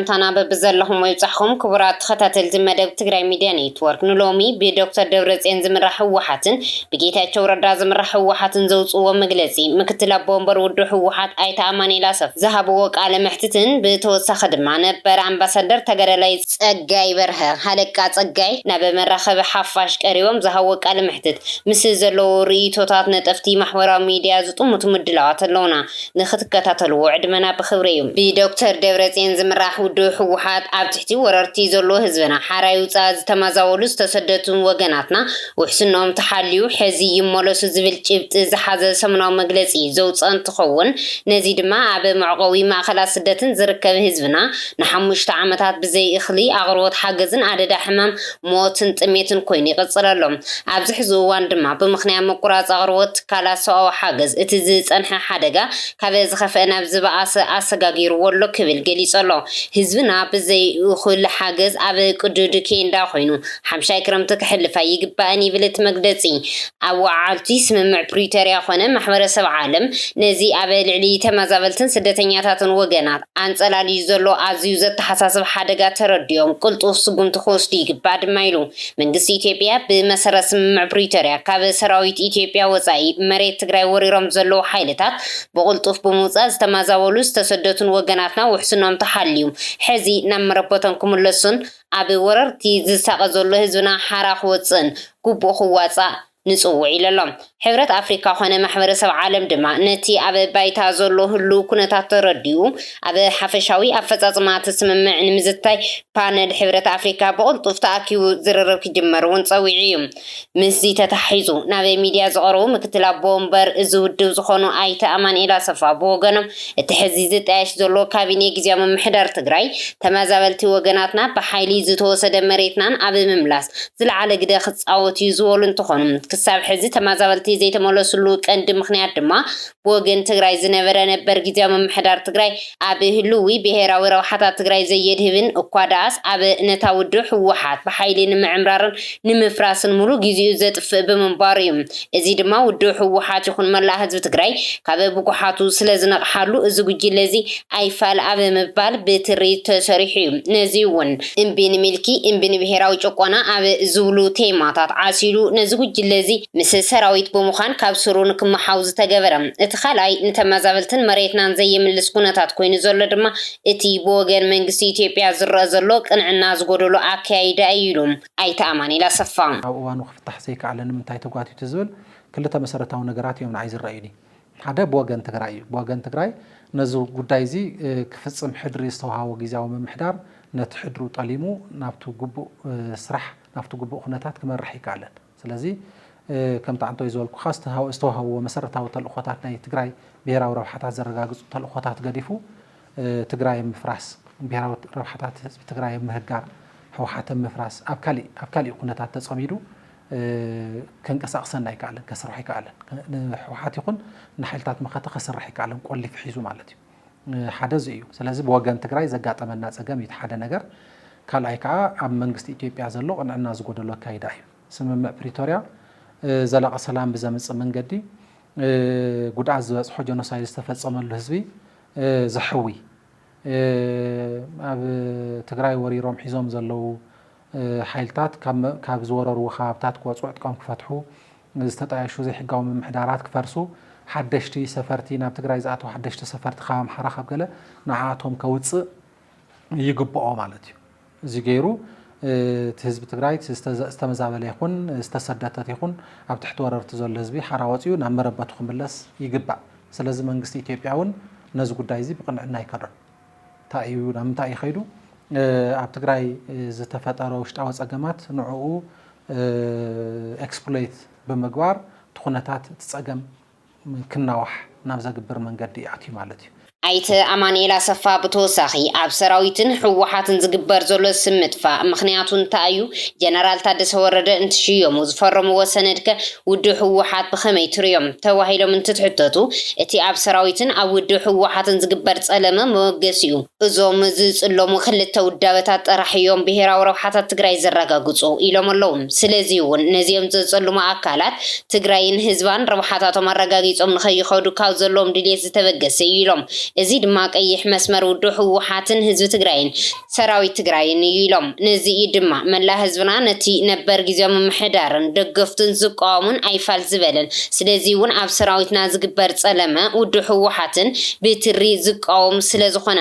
ሰላምታና በብዘለኹሞ ይብጻሕኹም ክቡራት ተኸታተልቲ መደብ ትግራይ ሚድያ ኔትወርክ ንሎሚ ብዶክተር ደብረጽዮን ዝምራሕ ህወሓትን ብጌታቸው ረዳ ዝምራሕ ህወሓትን ዘውጽእዎ መግለጺ ምክትል ኣቦ ወንበር ውድብ ህወሓት ኣይተ ኣማኒኤል ኣሰፋ ዝሃብዎ ቃለ መሕትትን ብተወሳኺ ድማ ነበር ኣምባሳደር ተጋዳላይ ጸጋይ በርሀ፣ ሃለቃ ጸጋይ፣ ናብ መራኸቢ ሓፋሽ ቀሪቦም ዝሃብዎ ቃለ መሕትት ምስ ዘለዉ ርእይቶታት ነጠፍቲ ማሕበራዊ ሚድያ ዝጥምቱ ምድላዋት ኣለዉና ንክትከታተልዎ ዕድመና ብክብሪ እዩ። ብዶክተር ደብረጼን ዝምራሕ ውድብ ህወሓት ኣብ ትሕቲ ወረርቲ ዘሎ ህዝብና ሓራይ ውፃእ ዝተማዛወሉ ዝተሰደቱን ወገናትና ውሕስንኦም ተሓልዩ ሕዚ ይመለሱ ዝብል ጭብጢ ዝሓዘ ሰሙናዊ መግለፂ ዘውፀ እንትኸውን ነዚ ድማ ኣብ መዕቆቢ ማእኸላት ስደትን ዝርከብ ህዝብና ንሓሙሽተ ዓመታት ብዘይ እኽሊ ኣቕርቦት ሓገዝን ኣደዳ ሕማም ሞትን ጥሜትን ኮይኑ ይቕጽል ኣሎ። ኣብዚ ሕዚ እዋን ድማ ብምኽንያት ምቁራጽ ኣቕርቦት ትካላት ሰብኣዊ ሓገዝ እቲ ዝጸንሐ ሓደጋ ካብ ዝኸፍኣ ናብ ዝበኣሰ ኣሰጋጊርዎ ኣሎ ክብል ገሊጹ ኣሎ። ህዝብና ብዘይ እኹል ሓገዝ ኣብ ቅዱድ ኬንዳ ኮይኑ ሓምሻይ ክረምቲ ከሕልፍ ኣይግባእን ይብል እቲ መግለጺ። ኣወዓዓልቲ ስምምዕ ፕሪቶርያ ኮነ ማሕበረሰብ ዓለም ነዚ ኣብ ልዕሊ ተመዛበልትን ስደተኛታትን ወገናት፣ ኣንጸላልዩ ዘሎ ኣዝዩ ዘተሓሳስብ ሓደጋ ተረዲኦም ቅልጡፍ ስጉምቲ ክወስዱ ይግባእ ድማ ኢሉ። መንግስቲ ኢትዮጵያ ብመሰረት ስምምዕ ፕሪቶርያ ካብ ሰራዊት ኢትዮጵያ ወፃኢ መሬት ትግራይ ወሪሮም ዘለዉ ሓይልታት ብቕልጡፍ ብምውፃእ ዝተማዛበሉ ዝተሰደቱን ወገናትና ውሕስንኦም ተሓልዩ ሕዚ ናብ መረበቶም ክምለሱን ኣብ ወረርቲ ዝሳቐ ዘሎ ህዝብና ሓራ ክወፅእን ግቡኡ ክዋፃእ ንጽውዕ ኢሉ ኣሎ። ሕብረት ኣፍሪካ ኮነ ማሕበረሰብ ዓለም ድማ ነቲ ኣብ ባይታ ዘሎ ህሉው ኩነታት ተረዲኡ ኣብ ሓፈሻዊ ኣፈፃፅማ እቲ ስምምዕ ንምዝታይ ፓነል ሕብረት ኣፍሪካ ብቕልጡፍ ተኣኪቡ ዝርርብ ክጅመር እውን ፀዊዑ እዩ። ምስዚ ተተሓሒዙ ናብ ሚዲያ ዝቐረቡ ምክትል ኣቦ ወንበር እዚ ውድብ ዝኾኑ ኣይተ ኣማንኤል ኣሰፋ ብወገኖም እቲ ሕዚ ዝጣየሽ ዘሎ ካቢኔ ግዝያዊ ምምሕዳር ትግራይ ተመዛበልቲ ወገናትና ብሓይሊ ዝተወሰደ መሬትናን ኣብ ምምላስ ዝለዓለ ግደ ክፃወት እዩ ዝበሉ እንትኾኑ ክሳብ ሕዚ ተመዛበልቲ ዘይተመለስሉ ቀንዲ ምኽንያት ድማ ብወገን ትግራይ ዝነበረ ነበር ግዝያዊ ምምሕዳር ትግራይ ኣብ ህልዊ ብሄራዊ ረብሓታት ትግራይ ዘየድህብን እኳ ደኣስ ኣብ ነታ ውድብ ህወሓት ብሓይሊ ንምዕምራርን ንምፍራስን ሙሉእ ጊዚኡ ዘጥፍእ ብምንባሩ ዩ። እዚ ድማ ውድብ ህወሓት ይኹን መላእ ህዝቢ ትግራይ ካብ ብጉሓቱ ስለዝነቕሓሉ እዚ ጉጅለ እዚ ኣይፋል ኣብ ምባል ብትሪ ተሰሪሑ ዩ። ነዚ ዩ ውን እምቢ ንምልኪ እምቢ ንብሄራዊ ጭቆና ኣብ ዝብሉ ቴማታት ዓሲሉ ነዚ ጉጅለ እዚ ምስ ሰራዊት ብምዃን ካብ ስሩ ንክመሓው ዝተገበረ። እቲ ካልኣይ ንተመዛበልትን መሬትናን ዘየምልስ ኩነታት ኮይኑ ዘሎ ድማ እቲ ብወገን መንግስቲ ኢትዮጵያ ዝረኣ ዘሎ ቅንዕና ዝጎደሎ ኣከያይዳ እዩ ኢሉ ኣይተ ኣማኒኤል ኣሰፋ። ኣብ እዋኑ ክፍታሕ ዘይከኣለ ንምንታይ ተጓቲቱ ዝብል ክልተ መሰረታዊ ነገራት እዮም ንዓይ ዝረኣዩኒ። ሓደ ብወገን ትግራይ እዩ። ብወገን ትግራይ ነዚ ጉዳይ እዚ ክፍፅም ሕድሪ ዝተውሃቦ ጊዚያዊ ምምሕዳር ነቲ ሕድሩ ጠሊሙ ናብቲ ግቡእ ስራሕ ናብቲ ግቡእ ኩነታት ክመርሕ ኣይከኣለን። ስለዚ ከምቲ ዓንተወይ ዝበልኩኻ ዝተዋህብዎ መሰረታዊ ተልእኾታት ናይ ትግራይ ብሄራዊ ረብሓታት ዘረጋግፁ ተልእኾታት ገዲፉ ትግራይ ኣብ ምፍራስ ብሄራዊ ረብሓታት ህዝቢ ትግራይ ኣብ ምህጋር ህወሓት ኣብ ምፍራስ ኣብ ካሊእ ኣብ ካሊእ ኩነታት ተፀሚዱ ከንቀሳቕሰን ኣይከኣለን ከስርሖ ኣይከኣለን ንህወሓት ይኹን ንሓይልታት መኸተ ከስርሕ ኣይከኣለን ቆሊፉ ሒዙ ማለት እዩ። ሓደ እዚ እዩ። ስለዚ ብወገን ትግራይ ዘጋጠመና ፀገም እዩ እቲ ሓደ ነገር። ካልኣይ ከዓ ኣብ መንግስቲ ኢትዮጵያ ዘሎ ቅንዕና ዝጎደሎ ኣካይዳ እዩ። ስምምዕ ፕሪቶርያ ዘላቒ ሰላም ብዘምፅእ መንገዲ ጉድኣት ዝበፅሖ ጀኖሳይድ ዝተፈፀመሉ ህዝቢ ዘሕዊ ኣብ ትግራይ ወሪሮም ሒዞም ዘለዉ ሓይልታት ካብ ዝወረርዎ ከባብታት ክወጽኡ ዕጥቆም ክፈትሑ፣ ዝተጣየሹ ዘይሕጋዊ ምምሕዳራት ክፈርሱ፣ ሓደሽቲ ሰፈርቲ ናብ ትግራይ ዝኣትዉ ሓደሽቲ ሰፈርቲ ካብ ኣምሓራ ካብ ገለ ንዓኣቶም ከውጽእ ይግብኦ ማለት እዩ። እዚ ገይሩ እቲ ህዝቢ ትግራይ እቲ ዝተመዛበለ ይኹን ዝተሰደተት ይኹን ኣብ ትሕቲ ወረርቲ ዘሎ ህዝቢ ሓራ ወጽዩ ናብ መረበቱ ክምለስ ይግባእ። ስለዚ መንግስቲ ኢትዮጵያ እውን ነዚ ጉዳይ እዚ ብቕንዕና ኣይከዶን። እንታይ እዩ ናብ ምንታይ እዩ ከይዱ ኣብ ትግራይ ዝተፈጠረ ውሽጣዊ ፀገማት ንዕኡ ኤክስፕሎይት ብምግባር እቲ ኩነታት እቲ ፀገም ክናዋሕ ናብ ዘግብር መንገዲ እዩ ኣትዩ ማለት እዩ። ኣይተ ኣማኒኤል ኣሰፋ ብተወሳኺ ኣብ ሰራዊትን ህወሓትን ዝግበር ዘሎ ስም ምጥፋእ ምኽንያቱ እንታይ እዩ? ጀነራል ታደሰ ወረደ እንትሽየሙ ዝፈረምዎ ሰነድ ከ ውድብ ህወሓት ብኸመይ ትርእዮም? ተባሂሎም እንትትሕተቱ፣ እቲ ኣብ ሰራዊትን ኣብ ውድብ ህወሓትን ዝግበር ፀለመ መበገሲኡ እዞም ዝፅለሙ ክልተ ውዳበታት ጥራሕ እዮም ብሄራዊ ረብሓታት ትግራይ ዘረጋግፁ ኢሎም ኣለው። ስለዚ እውን ነዚኦም ዘፀልሙ ኣካላት ትግራይን ህዝባን ረብሓታቶም ኣረጋጊፆም ንከይኸዱ ካብ ዘለዎም ድልየት ዝተበገሰ እዩ ኢሎም። እዚ ድማ ቀይሕ መስመር ውድብ ህወሓትን ህዝቢ ትግራይን ሰራዊት ትግራይን እዩ ኢሎም። ነዚ እዩ ድማ መላእ ህዝብና ነቲ ነበር ግዝያዊ ምምሕዳርን ደገፍቱን ዝቃወሙን ኣይፋል ዝበለን። ስለዚ እውን ኣብ ሰራዊትና ዝግበር ፀለመ ውድብ ህወሓትን ብትሪ ዝቃወም ስለዝኾነ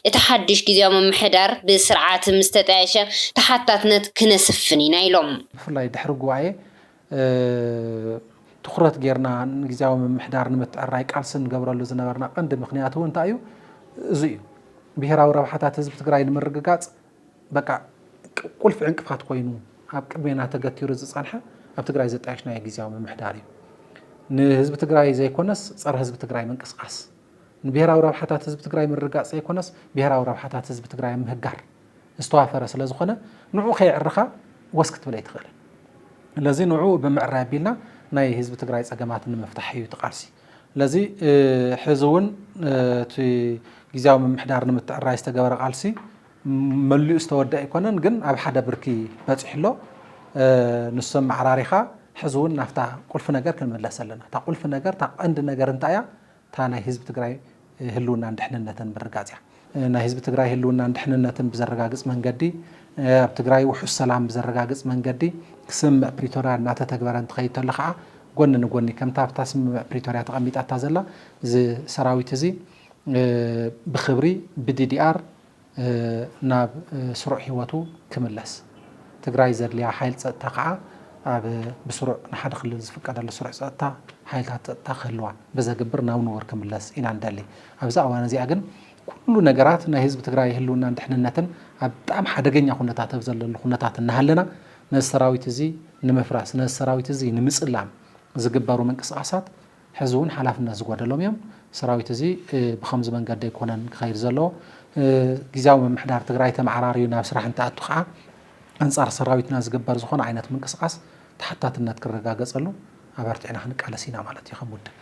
እቲ ሓዱሽ ግዝያዊ ምምሕዳር ብስርዓት ምስተጣየሸ ተሓታትነት ክነስፍን ኢና ኢሎም። ብፍላይ ድሕሪ ጉባኤ ትኹረት ጌርና ንግዝያዊ ምምሕዳር ንምትዕርራይ ቃልሲ ንገብረሉ ዝነበርና ቀንዲ ምኽንያት እውን እንታይ እዩ? እዙይ እዩ። ብሄራዊ ረብሓታት ህዝቢ ትግራይ ንምርግጋፅ በቃ ቁልፊ ዕንቅፋት ኮይኑ ኣብ ቅድሜና ተገቲሩ ዝፀንሐ ኣብ ትግራይ ዘጣየሽናዮ ግዝያዊ ምምሕዳር እዩ። ንህዝቢ ትግራይ ዘይኮነስ ፀረ ህዝቢ ትግራይ ምንቅስቓስ፣ ንብሄራዊ ረብሓታት ህዝቢ ትግራይ ምርግጋፅ ዘይኮነስ ብሄራዊ ረብሓታት ህዝቢ ትግራይ ምህጋር ዝተዋፈረ ስለ ዝኾነ ንዑ ከየዕርኻ ወስ ክትብል ኣይትኽእልን። ለዚ ንዑ ብምዕራይ ኣቢልና ናይ ህዝቢ ትግራይ ፀገማት ንምፍታሕ እዩ እቲ ቃልሲ። ለዚ ሕዚ እውን እቲ ጊዜያዊ ምምሕዳር ንምትዕራይ ዝተገበረ ቃልሲ መሊኡ ዝተወድእ ኣይኮነን፣ ግን ኣብ ሓደ ብርኪ በፂሑ ኣሎ። ንሱ ኣመዓራሪኻ ሕዚ እውን ናብታ ቁልፊ ነገር ክንምለስ ኣለና። እታ ቁልፊ ነገር እታ ቀንዲ ነገር እንታይ እያ? እታ ናይ ህዝቢ ትግራይ ህልውናን ድሕንነትን ምርጋፅ እያ። ናይ ህዝቢ ትግራይ ህልውናን ድሕንነትን ብዘረጋግፅ መንገዲ፣ ኣብ ትግራይ ውሑስ ሰላም ብዘረጋግፅ መንገዲ ስምምዕ ፕሪቶርያ እናተተግበረ እንትኸይድ ተሎ ከዓ ጎኒ ንጎኒ ከምታ ኣብታ ስምምዕ ፕሪቶርያ ተቐሚጣታ ዘላ እዚ ሰራዊት እዚ ብኽብሪ ብዲዲኣር ናብ ስሩዕ ሂወቱ ክምለስ ትግራይ ዘድልያ ሓይል ፀጥታ ከዓ ኣብ ብስሩዕ ንሓደ ክልል ዝፍቀደሉ ስሩዕ ፀጥታ ሓይልታት ፀጥታ ክህልዋ ብዘግብር ናብ ንቡር ክምለስ ኢና ንደሊ ኣብዛ እዋን እዚኣ ግን ኩሉ ነገራት ናይ ህዝቢ ትግራይ ህልውናን ድሕንነትን ኣብ ብጣዕሚ ሓደገኛ ኩነታት ኣብ ዘለሉ ኩነታት እናሃለና ነዚ ሰራዊት እዚ ንምፍራስ ነዚ ሰራዊት እዚ ንምፅላም ዝግበሩ ምንቅስቓሳት ሕዚ እውን ሓላፍነት ዝጎደሎም እዮም። ሰራዊት እዚ ብኸምዚ መንገዲ ኣይኮነን ክኸይድ ዘለዎ። ግዝያዊ ምምሕዳር ትግራይ ተመዓራርዩ ናብ ስራሕ እንትኣቱ ከዓ ኣንፃር ሰራዊትና ዝግበር ዝኾነ ዓይነት ምንቅስቓስ ተሓታትነት ክረጋገፀሉ ኣበርቲዕና ክንቃለስ ኢና ማለት እዩ ከም ውድብ።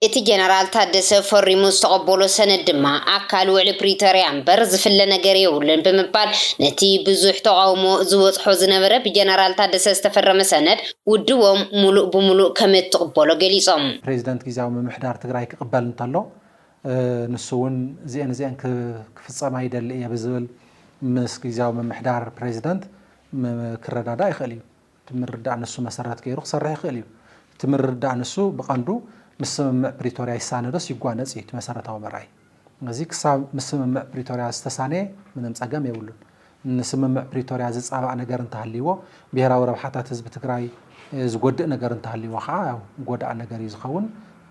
እቲ ጀነራል ታደሰ ፈሪሙ ዝተቐበሎ ሰነድ ድማ ኣካል ውዕሊ ፕሪቶርያ እምበር ዝፍለ ነገር የብሉን ብምባል ነቲ ብዙሕ ተቓውሞ ዝበፅሖ ዝነበረ ብጀነራል ታደሰ ዝተፈረመ ሰነድ ውድቦም ሙሉእ ብሙሉእ ከምእትቕበሎ ገሊፆም። ፕሬዚደንት ጊዚያዊ ምምሕዳር ትግራይ ክቕበል እንተሎ ንሱ እውን እዚኤን እዚኤን ክፍፀማ ይደሊ እየ ብዝብል ምስ ጊዚያዊ ምምሕዳር ፕሬዚደንት ክረዳዳእ ይኽእል እዩ። እቲ ምርድዳእ ንሱ መሰረት ገይሩ ክሰርሕ ይኽእል እዩ። እቲ ምርድዳእ ንሱ ብቐንዱ ምስ ስምምዕ ፕሪቶሪያ ይሳነ ዶስ ይጓነፅ እዩ እቲ መሰረታዊ መርኣዪ። እዚ ክሳብ ምስ ስምምዕ ፕሪቶርያ ዝተሳነየ ምንም ፀገም የብሉን። ንስምምዕ ፕሪቶርያ ዝፃባእ ነገር እንተሃልይዎ፣ ብሄራዊ ረብሓታት ህዝቢ ትግራይ ዝጎድእ ነገር እንተሃልይዎ ከዓ ያው ጎዳኢ ነገር እዩ ዝኸውን፣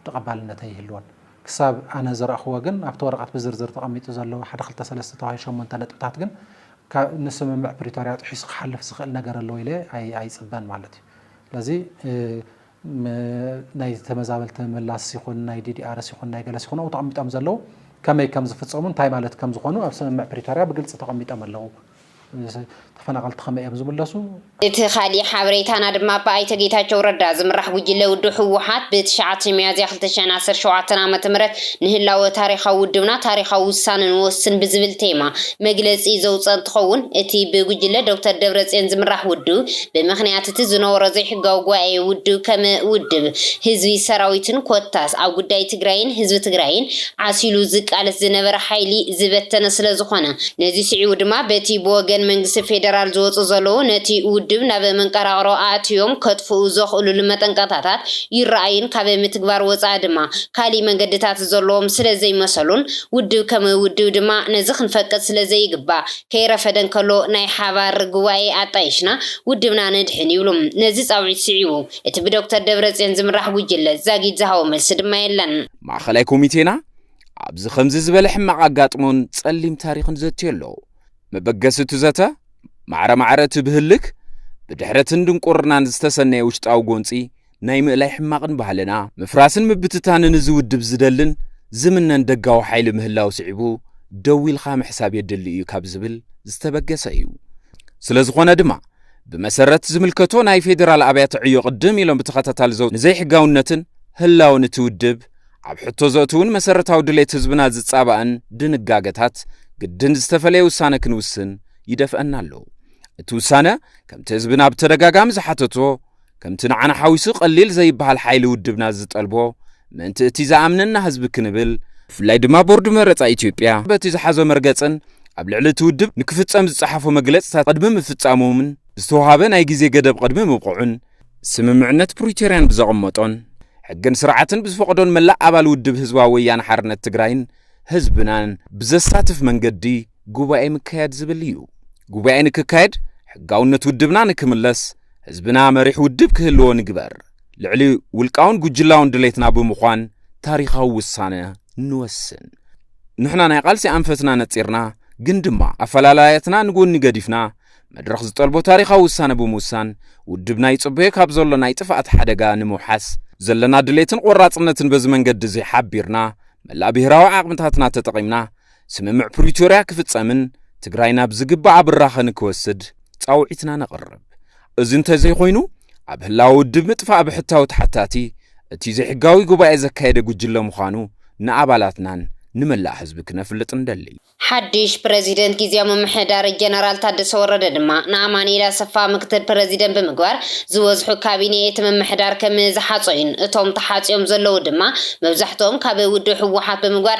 ተቐባልነት ኣይህልዎን። ክሳብ ኣነ ዝረእኽዎ ግን ኣብቲ ወረቐት ብዝርዝር ተቐሚጡ ዘሎ ሓደ ክልተ ሰለስተ ተባሂሉ ሸሞንተ ነጥብታት ግን ንስምምዕ ፕሪቶርያ ጥሒሱ ክሓልፍ ዝኽእል ነገር ኣለዎ ኢለ ኣይፅበን ማለት እዩ። ስለዚ ናይ ተመዛበልቲ ምምላስ ይኹን ናይ ዲዲኣርስ ይኹን ናይ ገለስ ይኹን ኣብኡ ተቐሚጦም ዘለዉ ከመይ ከም ዝፍፀሙ እንታይ ማለት ከም ዝኾኑ ኣብ ስምምዕ ፕሪቶርያ ብግልፂ ተቐሚጦም ኣለዉ። ተፈናቐልቲ ከመይ እዮም ዝምለሱ? እቲ ካሊእ ሓበሬታና ድማ ብኣይተ ጌታቸው ረዳ ዝምራሕ ጉጅለ ውድብ ህወሓት ብ ትሽዓተ ሚያዝያ ክልተ ሽሕን ዓሰርተ ሸውዓተን ዓመተ ምህረት ንህላወ ታሪኻዊ ውድብና ታሪኻዊ ውሳነ ንወስን ብዝብል ቴማ መግለፂ ዘውፀ እንትኸውን እቲ ብጉጅለ ዶክተር ደብረፅዮን ዝምራሕ ውድብ ብምኽንያት እቲ ዝነበሮ ዘይሕጋዊ ጉባኤ ውድብ ከም ውድብ፣ ህዝቢ፣ ሰራዊትን ኮታስ ኣብ ጉዳይ ትግራይን ህዝቢ ትግራይን ዓሲሉ ዝቃለስ ዝነበረ ሓይሊ ዝበተነ ስለ ዝኾነ ነዚ ስዒቡ ድማ በቲ ብወገን መንግስቲ ፌደራል ዝወፁ ዘለዉ ነቲ ውድብ ናብ መንቀራቕሮ ኣእትዮም ከጥፍኡ ዘኽእሉሉ መጠንቀቕታታት ይረኣዩን ካብ ምትግባር ወፃኢ ድማ ካሊእ መንገድታት ዘለዎም ስለ ዘይመሰሉን ውድብ ከም ውድብ ድማ ነዚ ክንፈቅድ ስለ ዘይግባእ ከይረፈደ እንከሎ ናይ ሓባር ጉባኤ ኣጣይሽና ውድብና ነድሕን ይብሉ። ነዚ ጻውዒት ስዒቡ እቲ ብዶክተር ደብረጽዮን ዝምራሕ ጉጅለ ዛጊድ ዝሃቦ መልሲ ድማ የለን። ማእኸላይ ኮሚቴና ኣብዚ ከምዚ ዝበለ ሕማቕ ኣጋጥሞን ጸሊም ታሪኽን ዘትዮ ኣሎ። መበገሲ እቲ ዘተ ማዕረ ማዕረ እቲ ብህልክ፣ ብድሕረትን ድንቁርናን ዝተሰነየ ውሽጣዊ ጎንጺ፣ ናይ ምእላይ ሕማቕን ባህልና፣ ምፍራስን ምብትታንን እዚ ውድብ ዝደልን ዝምነን ደጋዊ ሓይሊ ምህላው ስዒቡ ደው ኢልካ ምሕሳብ የድሊ እዩ ካብ ዝብል ዝተበገሰ እዩ። ስለ ዝኾነ ድማ፣ ብመሰረት ዝምልከቶ ናይ ፌዴራል ኣብያተ ዕዮ ቅድም ኢሎም ብተኸታታሊ ዘው ንዘይሕጋውነትን ህላወን እቲ ውድብ ኣብ ሕቶ ዘእትውን መሰረታዊ ድሌት ህዝብና ዝጻባእን ድንጋገታት ግድን ዝተፈለየ ውሳነ ክንውስን ይደፍአና ኣሎ። እቲ ውሳነ ከምቲ ህዝብና ብተደጋጋሚ ዝሓተቶ ከምቲ ንዓና ሓዊሱ ቀሊል ዘይበሃል ሓይሊ ውድብና ዝጠልቦ ምእንቲ እቲ ዝኣምነና ህዝቢ ክንብል፣ ብፍላይ ድማ ቦርድ መረጻ ኢትዮጵያ በቲ ዝሓዞ መርገጽን ኣብ ልዕሊ እቲ ውድብ ንክፍጸም ዝጸሓፎ መግለጽታት ቅድሚ ምፍጻሞምን ብዝተወሃበ ናይ ግዜ ገደብ ቅድሚ ምብቕዑን፣ ስምምዕነት ፕሪቶርያን ብዘቐመጦን ሕግን ስርዓትን ብዝፈቕዶን መላእ ኣባል ውድብ ህዝባዊ ወያነ ሓርነት ትግራይን ህዝብናን ብዘሳትፍ መንገዲ፣ ጉባኤ ምካያድ ዝብል እዩ። ጉባኤ ንክካየድ ሕጋውነት ውድብና ንክምለስ ህዝብና መሪሕ ውድብ ክህልዎ ንግበር። ልዕሊ ውልቃውን ጉጅላውን ድሌትና ብምዃን ታሪኻዊ ውሳነ ንወስን። ንሕና ናይ ቃልሲ ኣንፈትና ነጺርና ግን ድማ ኣፈላላያትና ንጎኒ ገዲፍና መድረኽ ዝጠልቦ ታሪኻዊ ውሳነ ብምውሳን ውድብና ይጽበዮ ካብ ዘሎ ናይ ጥፍኣት ሓደጋ ንምውሓስ ዘለና ድሌትን ቆራጽነትን በዚ መንገዲ እዚ ሓቢርና መላእ ብሄራዊ ዓቕምታትና ተጠቒምና ስምምዕ ፕሪቶርያ ክፍጸምን ትግራይ ናብ ዝግባኣ ብራኸ ንክወስድ ጻውዒትና ነቕርብ። እዚ እንተዘይኮይኑ ኣብ ህላወ ውድብ ምጥፋእ ብሕታዊ ተሓታቲ እቲ ዘይሕጋዊ ጉባኤ ዘካየደ ጉጅለ ምዃኑ ንኣባላትናን ንመላእ ህዝቢ ክነፍልጥ ንደሊ። ሓድሽ ፕረዚደንት ግዝያዊ ምምሕዳር ጀነራል ታደሰ ወረደ ድማ ንኣማኒኤል ኣሰፋ ምክትል ፕረዚደንት ብምግባር ዝበዝሑ ካቢኔ እቲ ምምሕዳር ከም ዝሓጾዩን እቶም ተሓጽዮም ዘለዉ ድማ መብዛሕትኦም ካብ ውድብ ህወሓት ብምግባር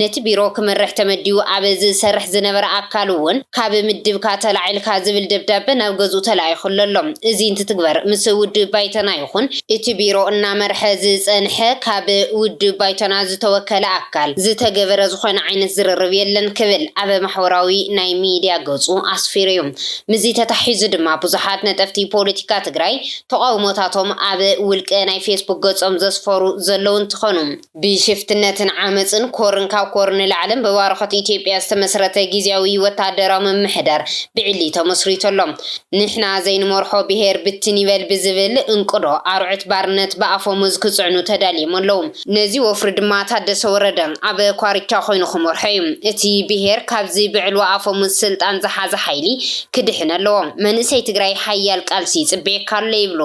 ነቲ ቢሮ ክመርሕ ተመዲቡ ኣብ ዝሰርሕ ዝነበረ ኣካል እውን ካብ ምድብካ ተላዒልካ ዝብል ደብዳበ ናብ ገዝኡ ተላኢኹሉ ኣሎ። እዚ እንትትግበር ምስ ውድብ ባይቶና ይኹን እቲ ቢሮ እናመርሐ ዝፀንሐ ካብ ውድብ ባይቶና ዝተወከለ ኣካል ዝተገበረ ዝኾነ ዓይነት ዝርርብ የለን ክብል ኣብ ማሕበራዊ ናይ ሚድያ ገፁ ኣስፊሩ እዩ። ምስዚ ተተሓሒዙ ድማ ብዙሓት ነጠፍቲ ፖለቲካ ትግራይ ተቓውሞታቶም ኣብ ውልቀ ናይ ፌስቡክ ገፆም ዘስፈሩ ዘለዉ እንትኾኑ፣ ብሽፍትነትን ዓመጽን ኮርን ካብ ኮር ንላዕልን ብባርኾት ኢትዮጵያ ዝተመስረተ ግዝያዊ ወተሃደራዊ ምምሕዳር ብዕሊ ተመስሪቱ ኣሎ። ንሕና ዘይንመርሖ ብሄር ብትን ይበል ብዝብል እንቅዶ ኣርዑት ባርነት ብኣፈሙዝ ክጽዕኑ ተዳልዮም ኣለዉ። ነዚ ወፍሪ ድማ ታደሰ ወረደ ኣብ ኳርቻ ኮይኑ ክመርሖ እዩ። እቲ ብሄር ካብዚ ብዕልዋ ኣፈሙዝ ስልጣን ዝሓዘ ሓይሊ ክድሕን ኣለዎ። መንእሰይ ትግራይ ሓያል ቃልሲ ይጽበየካ ኣሎ ይብሉ።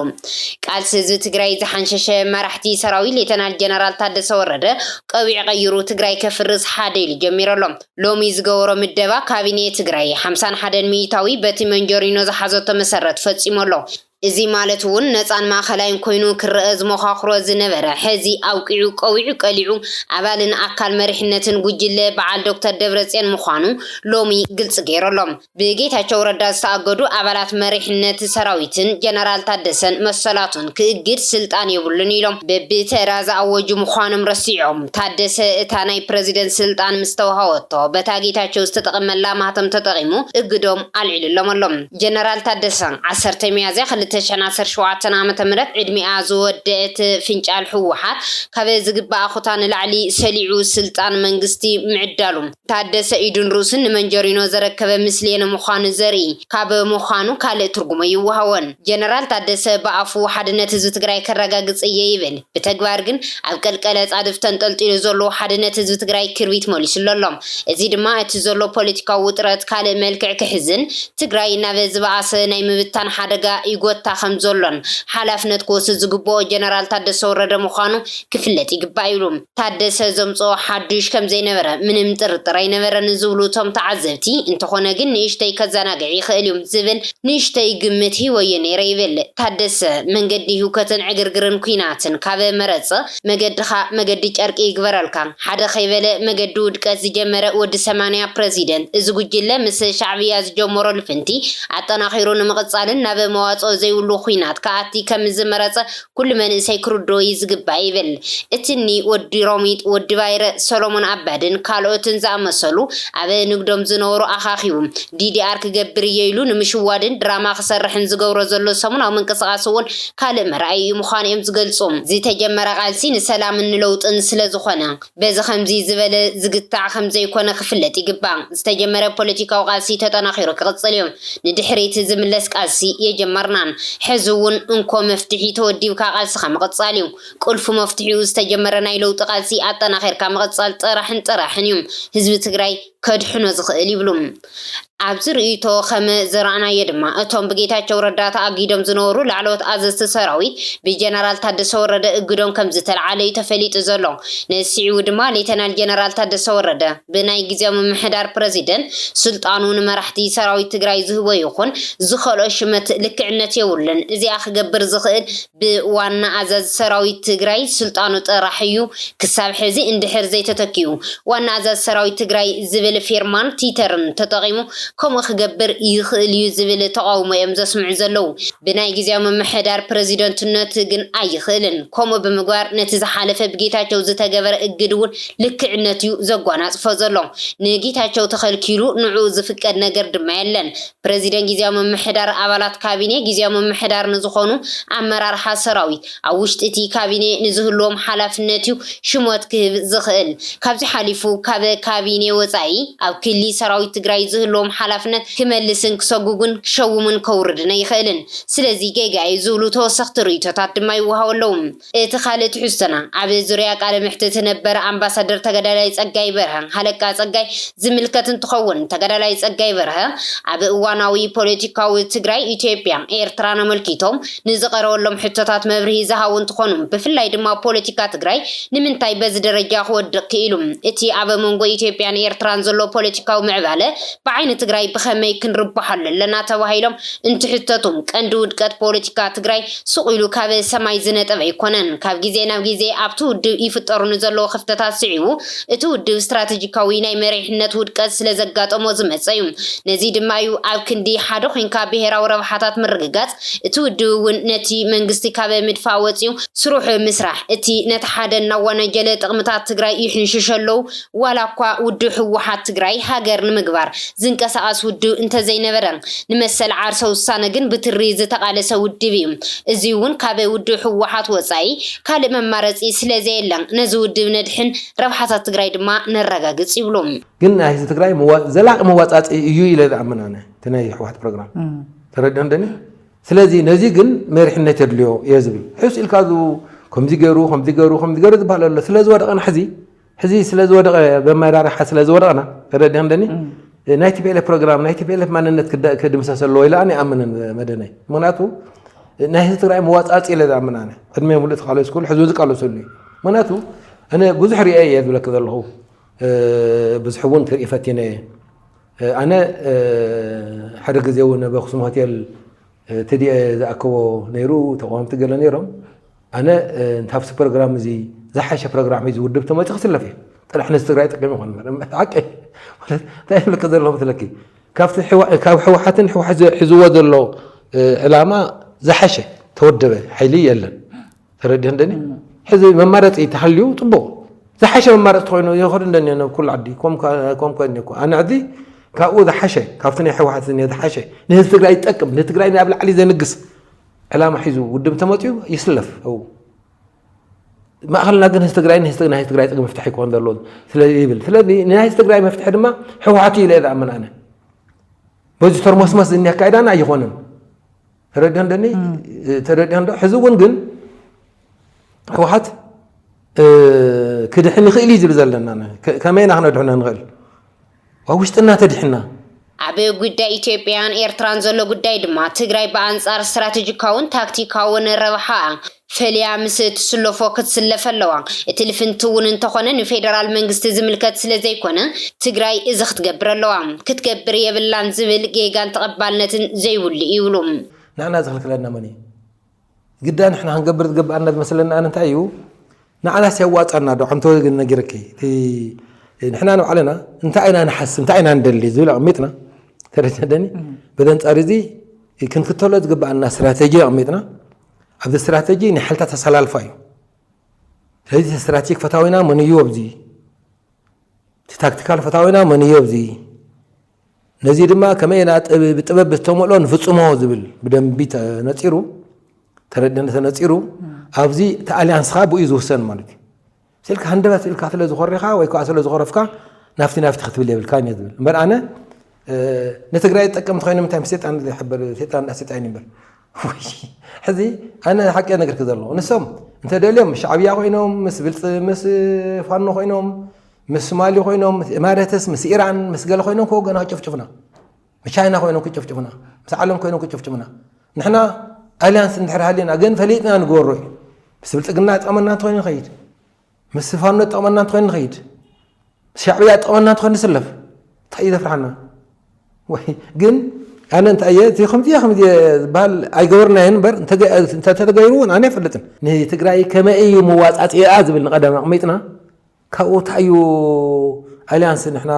ቃልሲ ህዝቢ ትግራይ ዝሓንሸሸ መራሕቲ ሰራዊት ሌተናል ጀነራል ታደሰ ወረደ ቆቢዕ ቀይሩ ትግራይ ከፍርስ ሓደ ኢሉ ጀሚሩ ኣሎ። ሎሚ ዝገበሮ ምደባ ካቢኔ ትግራይ ሓምሳን ሓደን ሚኢታዊ በቲ መንጆሪኖ ዝሓዘቶ መሰረት ፈፂሙ ኣሎ። እዚ ማለት እውን ነፃን ማእኸላይን ኮይኑ ክረኣ ዝሞኻኽሮ ዝነበረ ሕዚ ኣብቂዑ ቆቢዑ ቀሊዑ ኣባልን ኣካል መሪሕነትን ጉጅለ በዓል ዶክተር ደብረፅዮን ምዃኑ ሎሚ ግልፂ ገይሩ ኣሎ። ብጌታቸው ረዳ ዝተኣገዱ ኣባላት መሪሕነት ሰራዊትን ጀነራል ታደሰን መሰላቱን ክእግድ ስልጣን የብሉን ኢሎም በቢተራ ዝኣወጁ ምዃኖም ረሲዖም ታደሰ እታ ናይ ፕረዚደንት ስልጣን ምስ ተውሃወቶ በታ ጌታቸው ዝተጠቐመላ ማህተም ተጠቒሙ እግዶም ኣልዒሉሎም ኣሎ። ጀነራል ታደሰ ዓሰርተ ሚያዝያ ክልተ ሽሕን ዓሰርተ ሸውዓተን ዓመተ ምህረት ዕድሚኣ ዝወደእት ፍንጫል ህወሓት ካብ ዝግበኣ ኮታ ንላዕሊ ሰሊዑ ስልጣን መንግስቲ ምዕዳሉ ታደሰ ኢዱን ርእሱን ንመንጀሪኖ ዘረከበ ምስሌነ ምዃኑ ዘርኢ ካብ ምዃኑ ካልእ ትርጉም ኣይወሃዎን። ጀነራል ታደሰ ብኣፉ ሓድነት ህዝቢ ትግራይ ከረጋግፅ እየ ይብል። ብተግባር ግን ኣብ ቀልቀል ኣፃድፍ ተንጠልጢሉ ዘሎ ሓድነት ህዝቢ ትግራይ ክርቢት መሊሱሉ ኣሎ። እዚ ድማ እቲ ዘሎ ፖለቲካዊ ውጥረት ካልእ መልክዕ ክሕዝን ትግራይ ናብ ዝበኣሰ ናይ ምብታን ሓደጋ ይጎታ ከምዘሎን ሓላፍነት ክወስድ ዝግበኦ ጀነራል ታደሰ ወረደ ምዃኑ ክፍለጥ ይግባእ ይብሉ። ታደሰ ዘምፅኦ ሓዱሽ ከምዘይነበረ ምንም ጥርጥር ኣይነበረን ዝብሉ እቶም ተዓዘብቲ፣ እንተኾነ ግን ንእሽተይ ከዘናግዕ ይኽእል ዩ ዝብል ንእሽተይ ግምት ሂበዮ ነይረ ይብል ታደሰ። መንገዲ ህውከትን ዕግርግርን ኲናትን ካብ መረፅ መገድኻ መገዲ ጨርቂ ይግበረልካ። ሓደ ከይበለ መገዲ ውድቀት ዝጀመረ ወዲ ሰማንያ ፕረዚደንት እዚ ጉጅለ ምስ ሻዕብያ ዝጀመሮ ልፍንቲ ኣጠናኺሩ ንምቕፃልን ናብ መዋፅኦ ዘይብሉ ዂናት ክኣቲ ከምዝመረፀ ኩሉ መንእሰይ ክርድኦ'ዩ ዝግባእ ይብል። እቲ እኒ ወዲ ሮሚጥ፣ ወዲ ባይረ፣ ሰሎሞን ኣባድን ካልኦትን ዝኣመሰሉ ኣብ ንግዶም ዝነበሩ ኣኻኺቡ፣ ዲዲኣር ክገብር እየ ኢሉ ንምሽዋድን ድራማ ክሰርሕን ዝገብሮ ዘሎ ሰሙናዊ ምንቅስቓስ እውን ካልእ መርኣይኡ ምዃኑ'ዮም ዝገልጹ። ዝተጀመረ ቃልሲ ንሰላምን ንለውጥን ስለዝኾነ፣ በዚ ከምዚ ዝበለ ዝግታዕ ከምዘይኮነ ክፍለጥ ይግባእ። ዝተጀመረ ፖለቲካዊ ቃልሲ ተጠናኺሩ ክቕፅል እዩ። ንድሕሪት ዝምለስ ቃልሲ የጀመርናን ሕዚ እውን እንኮ መፍትሒ ተወዲብካ ቃልስኻ ምቕፃል እዩ። ቁልፊ መፍትሒኡ ዝተጀመረ ናይ ለውጢ ቃልሲ ኣጠናኺርካ ምቕፃል ጥራሕን ጥራሕን እዩ። ህዝቢ ትግራይ ከድሕኖ ዝኽእል ይብሉ። ኣብዚ ርእይቶ ከም ዝረኣናዮ ድማ እቶም ብጌታቸው ረዳ ተኣጊዶም ዝነበሩ ላዕለዎት ኣዘዝቲ ሰራዊት ብጀነራል ታደሰ ወረደ እግዶም ከም ዝተልዓለ እዩ ተፈሊጡ ዘሎ። ነዚ ስዒቡ ድማ ሌተናል ጀነራል ታደሰ ወረደ ብናይ ግዝያዊ ምምሕዳር ፕረዚደንት ስልጣኑ ንመራሕቲ ሰራዊት ትግራይ ዝህቦ ይኹን ዝኸልኦ ሽመት ልክዕነት የብሉን። እዚኣ ክገብር ዝኽእል ብዋና ኣዛዚ ሰራዊት ትግራይ ስልጣኑ ጥራሕ እዩ ክሳብ ሕዚ እንድሕር ዘይተተኪኡ ዋና ኣዛዚ ሰራዊት ትግራይ ዝብል ፊርማን ቲተርን ተጠቒሙ ከምኡ ክገብር ይኽእል እዩ ዝብል ተቓውሞ እዮም ዘስምዑ ዘለዉ ብናይ ግዝያዊ ምምሕዳር ፕረዚደንትነቱ ግን ኣይኽእልን ከምኡ ብምግባር ነቲ ዝሓለፈ ብጌታቸው ዝተገበረ እግድ እውን ልክዕነት እዩ ዘጓናጽፎ ዘሎ ንጌታቸው ተኸልኪሉ ንዕኡ ዝፍቀድ ነገር ድማ የለን ፕረዚደንት ግዝያዊ ምምሕዳር ኣባላት ካቢኔ ግዝያዊ ምምሕዳር ንዝኾኑ ኣመራርሓ ሰራዊት ኣብ ውሽጢ እቲ ካቢኔ ንዝህልዎም ሓላፍነት እዩ ሽሞት ክህብ ዝኽእል። ካብዚ ሓሊፉ ካብ ካቢኔ ወፃኢ ኣብ ክሊ ሰራዊት ትግራይ ዝህልዎም ሓላፍነት ክመልስን ክሰጉጉን ክሸውምን ከውርድን ኣይኽእልን። ስለዚ ጌጋ እዩ ዝብሉ ተወሰኽቲ ርእይቶታት ድማ ይወሃቡ ኣለው። እቲ ካልእ ትሕዝቶና፣ ኣብ ዙርያ ቃለ መሕትት ነበር ኣምባሳደር ተጋዳላይ ጸጋይ በርሀ፣ ሃለቃ ጸጋይ፣ ዝምልከት እንትኸውን፣ ተጋዳላይ ጸጋይ በርሀ፣ ኣብ እዋናዊ ፖለቲካዊ ትግራይ፣ ኢትዮጵያ፣ ኤርትራን ኣመልኪቶም ንዝቐረበሎም ሕቶታት መብርሂ ዝሃቡ እንትኾኑ፣ ብፍላይ ድማ ፖለቲካ ትግራይ ንምንታይ በዚ ደረጃ ክወድቕ ክኢሉ፣ እቲ ኣብ መንጎ ኢትዮጵያን ኤርትራን ዘሎ ፖለቲካዊ ምዕባለ ብዓይኒ ትግራይ ብኸመይ ክንርበሓሉ ኣለና ተባሂሎም እንትሕተቱ፣ ቀንዲ ውድቀት ፖለቲካ ትግራይ ሱቕ ኢሉ ካብ ሰማይ ዝነጥብ ኣይኮነን። ካብ ግዜ ናብ ግዜ ኣብቲ ውድብ ይፍጠሩ ንዘለዉ ክፍተታት ስዒቡ፣ እቲ ውድብ ስትራተጂካዊ ናይ መሪሕነት ውድቀት ስለዘጋጠሞ ዝመጸ'ዩ። ነዚ ድማ'ዩ ኣብ ክንዲ ሓደ ኮይንካ ብሄራዊ ረብሓታት ምርግጋጽ፣ እቲ ውድብ'ውን ነቲ መንግስቲ ካብ ምድፋእ ወጺኡ፣ ስሩዕ ምስራሕ እቲ ነቲ ሓደ እናወነጀለ ጥቕምታት ትግራይ ይሕንሽሸለዉ ዋላ እኳ ውድብ ህወሓት ትግራይ ሃገር ንምግባር ዝንቀሳቐስ ውድብ እንተዘይነበረ፣ ንመሰል ዓርሰ ውሳነ ግን ብትሪ ዝተቓለሰ ውድብ እዩ። እዙይ እውን ካብ ውድብ ህወሓት ወፃኢ ካልእ መማረፂ ስለዘየለ ነዚ ውድብ ነድሕን፣ ረብሓታት ትግራይ ድማ ነረጋግፅ ይብሉ። ግን ናይ ህዝቢ ትግራይ ዘላቒ መዋፃፅኢ እዩ ኢለ ዝኣምን ኣነ እቲ ናይ ህወሓት ፕሮግራም ተረዲኦም ደኒ ስለዚ ነዚ ግን መሪሕነት የድልዮ እየ ዝብል ሕስ ኢልካ ከምዚ ገይሩ ከምዚ ገይሩ ከምዚ ገይሩ ዝበሃል ኣሎ ስለ ዝወደቐና ሕዚ ሕዚ ስለዝወደቐ በመራርሓ ስለዝወደቕና ተረዲያ እንደኒ ናይ ቲፒኤልኤፍ ፕሮግራም ናይ ቲፒኤልኤፍ ማንነት ክድምሰስ ኣለዎ ኢለ ኣነ ይኣምንን መደነይ ምክንያቱ ናይ ህዝቢ ትግራይ መዋፃፂ ኢለ ዝኣምን ኣነ ዕድመ ሙሉእ ተቃለሱ ክሉ ሕዚ ዝቃለሰሉ እዩ ምክንያቱ እነ ብዙሕ ርአ እየ ዝብለክ ዘለኹ ብዙሕ እውን ክርኢ ፈቲነ እየ ኣነ ሓደ ግዜ እውን ኣብ ኣክሱም ሆቴል ትድኤ ዝኣከቦ ነይሩ ተቃወምቲ ገለ ነይሮም ኣነ እንተ ኣብቲ ፕሮግራም እዚ ዝሓሸ ፕሮግራም ሒዙ ውድብ ተመፂ ክስለፍ እየ ጥራሕ ነዚ ትግራይ ጠቂሙ ይኮን እምበር ሓቂ ማለት እንታይ ይብልክ ዘሎ መስለኪ ካብቲ ካብ ሕወሓትን ሕወሓት ሒዝዎ ዘሎ ዕላማ ዝሓሸ ተወደበ ሓይሊ የለን ተረዲህ እንደኒ ሕዚ መማረፂ ተሃልዩ ፅቡቅ ዝሓሸ መማረፂ ተኮይኑ ይኸዱ እንደኒ ናብ ኩሉ ዓዲ ኮም ኮይኒ እኮ ኣነ ሕዚ ካብኡ ዝሓሸ ካብቲ ናይ ሕወሓት ዝሓሸ ንህዝቢ ትግራይ ይጠቅም ንትግራይ ናብ ላዕሊ ዘንግስ ዕላማ ሒዙ ውድብ ተመፅኡ ይስለፍ ው ማእኸልና ግን ህዝቢ ትግራይ ንህዝቢ ናይ ትግራይ ፅግ መፍትሒ ክኾን ዘለዎ ስለ ይብል ስለዚ ንናይ ህዝቢ ትግራይ መፍትሒ ድማ ህወሓት እዩ ኢለ ዝኣምን ኣነ በዚ ተርሞስመስ ዝኒ ኣካይዳና ኣይኾንን ተረዲሆን ደኒ ተረዲሆን ዶ ሕዚ እውን ግን ህወሓት ክድሕን ይኽእል እዩ ዝብል ዘለና ከመይና ክነድሕኖ ንኽእል ኣብ ውሽጥና ተዲሕና። ኣብ ጉዳይ ኢትዮጵያን ኤርትራን ዘሎ ጉዳይ ድማ ትግራይ ብኣንጻር ስትራተጂካውን ታክቲካውን ረብሓኣ ፈልያ ምስ እትስለፎ ክትስለፍ ኣለዋ። እቲ ልፍንቲ እውን እንተኾነ ንፌደራል መንግስቲ ዝምልከት ስለዘይኮነ ትግራይ እዚ ክትገብር ኣለዋ ክትገብር የብላን ዝብል ጌጋን ተቐባልነትን ዘይብሉ እዩ ይብሉ። ንሕና ዝኽልክለና መን እዩ? ግዳ ንሕና ክንገብር ዝገበኣና ዝመስለኒ ኣነ እንታይ እዩ ንዓናስ የዋፃና ዶ ሓንቲ ወገን ነጊረኪ ንሕና ንባዕልና እንታይ ኢና ንሓስብ እንታይ ኢና ንደሊ ዝብል ኣቕሚጥና ተረድተደኒ በዚ ኣንፃር እዚ ክንክተሎ ዝግበኣና ስትራቴጂ ኣቕሚጥና ኣብዚ ስትራቴጂ ናይ ሓይልታት ኣሰላልፋ እዩ ስለዚ ስትራቴጂክ ፈታዊና መን እዩ ኣብዚ እቲ ታክቲካል ፈታዊና መን እዩ ኣብዚ ነዚ ድማ ከመይ ኢና ብጥበብ ዝተመልኦ ንፍፅሞ ዝብል ብደንቢ ተነፂሩ ተረድነ ተነፂሩ ኣብዚ እቲ ኣሊያንስካ ብኡ ዝውሰን ማለት እዩ ስልካ ሃንደበት ኢልካ ስለ ዝኾሪኻ ወይ ከዓ ስለ ዝኾረፍካ ናፍቲ ናፍቲ ክትብል የብልካ እየ ዝብል እምበር ኣነ ንትግራይ ዝጠቀምቲ ኮይኖም እንታይ ሴጣን ዝሕበር ሴጣን ዳ ሴጣን ይበር ሕዚ ኣነ ሓቂ ነገርክ ዘለኹ ንሶም እንተደልዮም ምስ ሻዕብያ ኮይኖም ምስ ብልፂ ምስ ፋኖ ኮይኖም ምስ ሶማሊ ኮይኖም ምስ ኢማረትስ ምስ ኢራን ምስ ገለ ኮይኖም ከ ገና ክጭፍጭፉና ምስ ቻይና ኮይኖም ክጭፍጭፉና ምስ ዓለም ኮይኖም ክጭፍጭፉና ንሕና ኣልያንስ እንድሕር ሃሊና ግን ፈሊጥና ንገበሮ እዩ ምስ ብልፅግና ጠመና እንተኮይኑ ንኸይድ ምስ ፋኖ ዝጠቕመና እንተኮይኑ ንኸይድ ምስ ሻዕብያ ዝጠቕመና እንተኮይኑ ንስለፍ እንታይ እዩ ዘፍርሓና ወይ ግን ኣነ እንታይ እየ እቲ ከምዚ ከምዚ ዝበሃል ኣይገበርናዮን እምበር እንተተገይሩ እውን ኣነ ኣይፈልጥን ንትግራይ ከመይ እዩ መዋፃፅኣ ዝብል ንቀደም ኣቕሚጥና ካብኡ እንታይ እዩ ኣሊያንስ ንሕና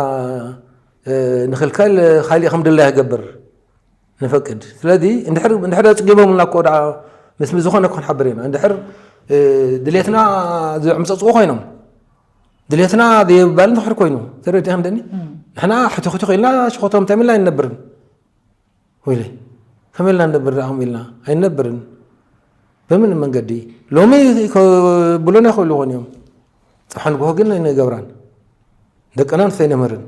ንክልከል ካሊእ ከም ድላይ ይገብር ንፈቅድ ስለዚ እንድሕር ኣፅጊቦምልና እኮ ደኣ ምስ ዝኾነ ክንሓብር ኢና እንድሕር ድሌትና ዝዕምፀፅኡ ኮይኖም ድሌትና ዘይባል ንክሕር ኮይኑ ተረዲያ እንደኒ ንሕና ሕትኽትኽ ኢልና ሽኮቶም እንታይ ኢልና ኣይንነብርን ወይለ ከመይ ኢልና ንነብር ደኣኹም ኢልና ኣይንነብርን በምን መንገዲ ሎሚ ብሎና ይኽእሉ ይኾን እዮም ፅሓ ንግሆ ግን ኣይንገብራን ደቅና ንሰይነምህርን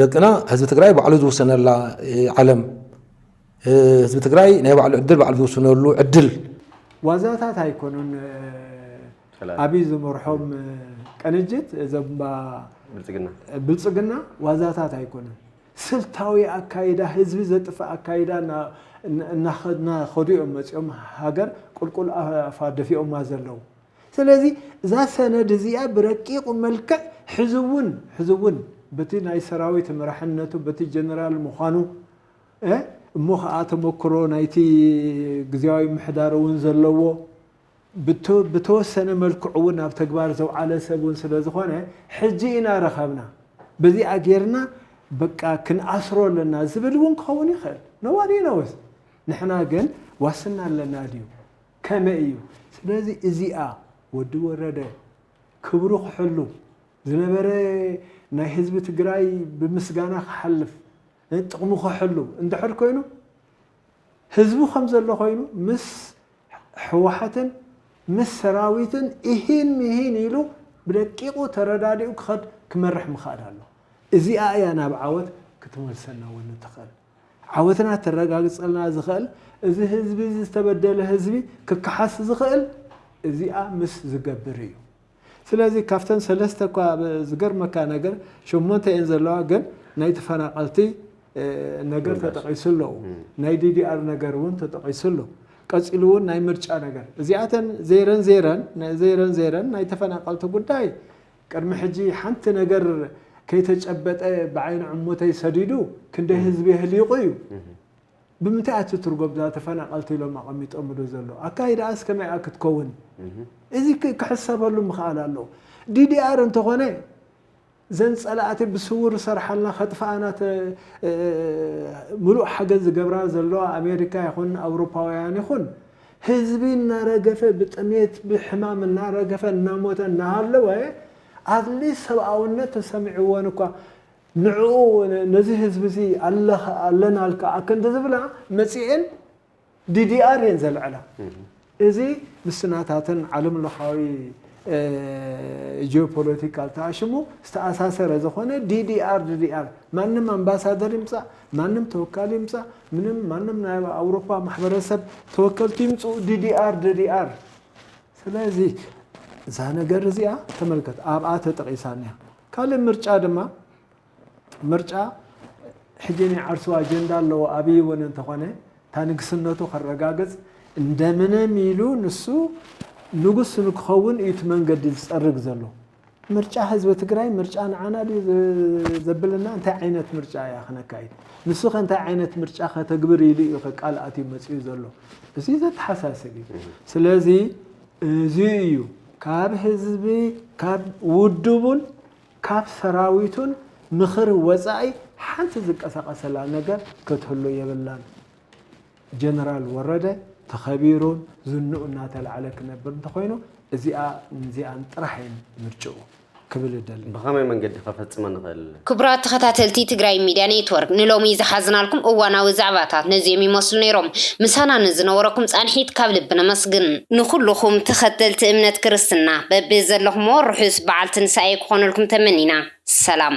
ደቅና ህዝቢ ትግራይ ባዕሉ ዝውሰነላ ዓለም ህዝቢ ትግራይ ናይ ባዕሉ ዕድል ባዕሉ ዝውስነሉ ዕድል ዋዛታት ኣይኮኑን። ኣብይ ዝመርሖም ቅንጅት ዘባ ብልፅግና ዋዛታት ኣይኮኑን። ስልታዊ ኣካይዳ ህዝቢ ዘጥፍእ ኣካይዳ እናኸዱ እዮም መፂኦም ሃገር ቁልቁል ኣፋ ደፊኦማ ዘለው ስለዚ እዛ ሰነድ እዚኣ ብረቂቑ መልክዕ ሕዚ እውን ሕዚ እውን በቲ ናይ ሰራዊት መራሕነቱ በቲ ጀነራል ምዃኑ እሞ ኸዓ ተሞክሮ ናይቲ ግዝያዊ ምሕዳር እውን ዘለዎ ብተወሰነ መልክዑ እውን ኣብ ተግባር ዘውዓለ ሰብ እውን ስለ ዝኾነ ሕጂ ኢና ረኸብና በዚኣ ጌርና በቃ ክንኣስሮ ኣለና ዝብል እውን ክኸውን ይኽእል ነዋሪ ነወስ ንሕና ግን ዋስና ኣለና ድዩ ከመይ እዩ? ስለዚ እዚኣ ወዲ ወረደ ክብሩ ክሕሉ ዝነበረ ናይ ህዝቢ ትግራይ ብምስጋና ክሓልፍ ጥቕሙ ክሕሉ እንድሕር ኮይኑ ህዝቡ ከም ዘሎ ኮይኑ ምስ ህወሓትን ምስ ሰራዊትን ኢሂን ምሂን ኢሉ ብደቂቑ ተረዳዲኡ ክኸድ ክመርሕ ምኽኣል ኣሎ። እዚኣ እያ ናብ ዓወት ክትመልሰና እውን እትኽእል። ዓወትና ተረጋግጸልና ዝኸእል እዚ ህዝቢ እዚ ዝተበደለ ህዝቢ ክከሓስ ዝኸእል እዚኣ ምስ ዝገብር እዩ። ስለዚ ካብተን ሰለስተ እኳ ኣብ ዝገርመካ ነገር ሸሞንተ እየን ዘለዋ ግን ናይ ተፈናቐልቲ ነገር ተጠቒሱ ኣሎ። ናይ ዲዲኣር ነገር እውን ተጠቒሱ ኣሎ። ቀጺሉ እውን ናይ ምርጫ ነገር እዚኣተን ዘይረን ዘይረን ዘይረን ዘይረን ናይ ተፈናቐልቲ ጉዳይ ቅድሚ ሕጂ ሓንቲ ነገር ከይተጨበጠ ብዓይኒ ዕሙተይ ሰዲዱ ክንደይ ህዝቢ የህሊቁ እዩ። ብምንታይ እያ ትትርጎም እዛ ተፈናቀልቲ ኢሎም ኣቀሚጦምሉ ዘሎ ኣካይዳኣስ ከመይ እያ ክትከውን እዚ ክሕሰበሉ ምክኣል ኣለዎ። ዲዲኣር እንተኾነ ዘን ጸላእቲ ብስውር ዝሰርሓልና ከጥፍኣና ምሉእ ሓገዝ ዝገብራ ዘለዋ ኣሜሪካ ይኹን ኣውሮፓውያን ይኹን ህዝቢ እናረገፈ ብጥሜት ብሕማም እናረገፈ እናሞተ እናሃለወ ኣትሊስት ሰብኣውነት ተሰሚዕወን እኳ ንዕኡ ነዚ ህዝቢ እዚ ኣለናልካ ኣክንዲ ዝብላ መፂኤን ዲዲኣር እየን ዘልዕላ እዚ ምስ ናታተን ዓለም ለኻዊ ጂኦፖለቲካል ተኣሽሙ ዝተኣሳሰረ ዝኾነ ዲዲኣር ዲዲኣር ማንም ኣምባሳደር ይምፃእ ማንም ተወካሊ ይምፃእ ምንም ማንም ናይ ኣውሮፓ ማሕበረሰብ ተወከልቲ ይምፅኡ ዲዲኣር ዲዲኣር ስለዚ እዛ ነገር እዚኣ ተመልከት ኣብኣ ተጠቂሳ እኒኣ ካልእ ምርጫ ድማ ምርጫ ሕጂ ናይ ዓርሱ ኣጀንዳ ኣለዎ ኣብይ እውን እንተኾነ እታ ንግስነቱ ከረጋግፅ እንደምንም ኢሉ ንሱ ንጉስ ንክኸውን እዩ እቲ መንገዲ ዝፀርግ ዘሎ ምርጫ ህዝቢ ትግራይ ምርጫ ንዓና ድዩ ዘብለና እንታይ ዓይነት ምርጫ እያ ክነካይድ ንሱ ከ እንታይ ዓይነት ምርጫ ከተግብር ኢሉ እዩ ቃል ኣትዩ መፅኡ ዘሎ እዚ ዘተሓሳስብ እዩ ስለዚ እዚ እዩ ካብ ህዝቢ ካብ ውድቡን ካብ ሰራዊቱን ምኽሪ ወፃኢ ሓንቲ ዝቀሳቀሰላ ነገር ክትህሉ የብላን ጀነራል ወረደ ተኸቢሩን ዝንኡ እናተላዕለ ክነብር እንተኾይኑ እዚኣን እዚኣን ጥራሕ እየን ምርጭኡ ክብል እደሊ። ብኸመይ መንገዲ ከፈጽመ ንኽእል? ክቡራት ተኸታተልቲ ትግራይ ሚድያ ኔትወርክ ንሎሚ ዝሓዝናልኩም እዋናዊ ዛዕባታት ነዚኦም ይመስሉ ነይሮም። ምሳና ንዝነበረኩም ፃንሒት ካብ ልቢ ነመስግን። ንኹሉኹም ተኸተልቲ እምነት ክርስትና በቢ ዘለኹምዎ ርሑስ በዓል ትንሳኤ ክኾነልኩም ተመኒና። ሰላም።